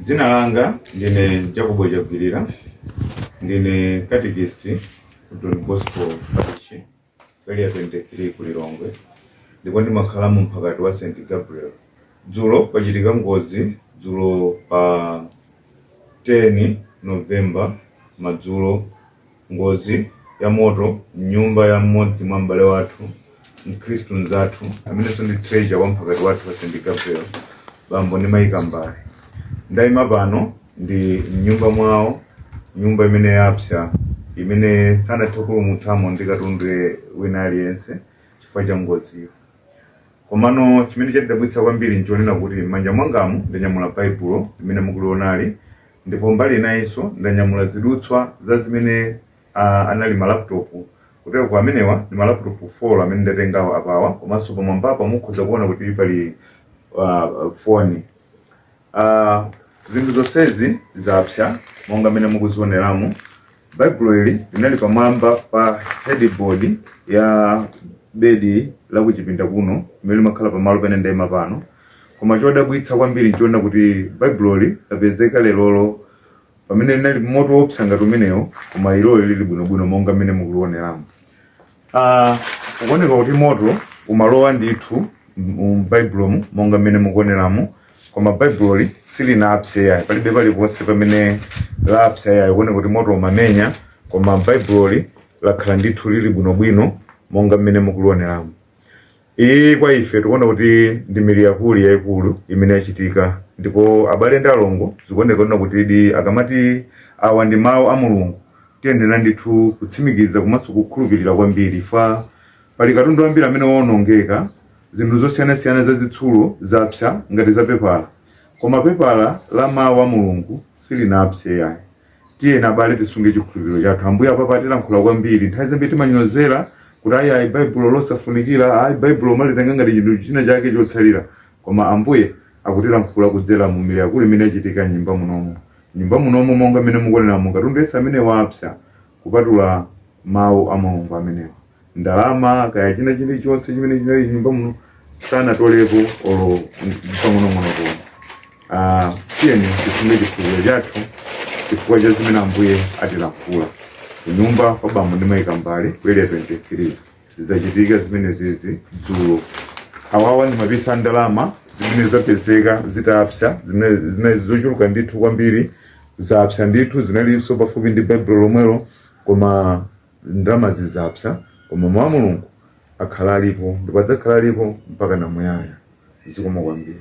Dzina langa ndine Jacobo Chagwirira, ndine katikist ku Don Bosco Parish, Area 23 ku Lilongwe, ndipo ndimakhala mu mphakati wa St Gabriel. Dzulo pachitika ngozi dzulo pa 10 November madzulo Ngozi ya moto m'nyumba ya mmodzi mwa m'bale wathu mkhristu mnzathu amenenso ndi treasurer wa mphakati wathu wa St. Gabriel bambo ndi mayi Kambale. Ndayima pano ndi m'nyumba mwawo, nyumba imene yapsa imene sanathe kupulumutsamo ndi katundu wina aliyense chifukwa cha ngoziyo. Komano chimene chatidabwitsa kwambiri n'chonena kuti m'manja mwangamu ndanyamula Baibulo limene mukulionali ndipo mbali inayinso ndanyamula zidutswa za zimene anali malaputopu. Kutero amenewa ndi malaputopu 4 amene ndatengawa apawa komanso pamwambapa mukhoza kuona kuti pali ah, foni. Ah, zinthu zonsezi zapsa monga mmene mukuzioneramu baibulo ili linali pamwamba pa headboard ya bedi la kuchipinda kuno limene limakhala pamalo pene ndayima pano koma chodabwitsa kwambiri n'chonena kuti baibuloli lapezeka lerolo pamene munali moto wopsa ngati umenewo koma iloli lili bwinobwino monga mmene mukulioneramu Ah, ukuoneka kuti moto umalowa ndithu m'baibulomu monga mmene mukuoneramu koma baibuloli silinapse yayi palibe paliponse pamene lapsa yayi ukuoneka kuti moto umamenya koma baibuloli lakhala ndithu lili bwinobwino monga mmene mukulioneramu Iyi kwa ife tikuona kuti ndi mirakuli yaikulu imene yachitika ndipo abale ndi alongo zikuoneka kunena kuti di akamati awa ndi mawu a Mulungu tiyenera ndithu kutsimikiza komanso kukhulupirira kwambiri fa pali katundu wambiri amene waonongeka zinthu zosiyanasiyana zazitsulo zapsa ngati zapepala koma pepala la mawu a Mulungu silinapse yayi Tiyeni abale tisunge chikhulupiriro chathu. Ambuye apapa atilankhula kwambiri. Nthawi zambiri timanyozera kuti ayi ayi Baibulo losafunikira, ayi Baibulo umalitenga ngati chinthu china chake chotsalira. Koma Ambuye akutilankhula kudzera mu miracle imene yachitika m'nyumba munomu. Nyumba munomu monga mmene mukuoneramu katundu yense amene wapsa kupatula mau a Mulungu amenewa. ndalama kaya china chilichonse chimene chinali m'nyumba muno sanatolepo olo pang'onong'ono koma Ah, tiyeni tisunge chikhulupiriro chathu chifukwa cha zimene ambuye atilankhula kunyumba kwa bambo ndi mayi Kambale ku Area 23 zachitika zimenezizi dzulo awawa ndi mapisi a ndalama zimene zapezeka zitapsa zimene zinali zochuluka ndithu kwambiri zapsa ndithu zinalinso pafupi ndi baibulo lomwelo koma Ndalamazi zapsa, koma Mau a Mulungu akhala alipo ndipo adzakhala alipo mpaka muyaya. Zikomo kwambiri.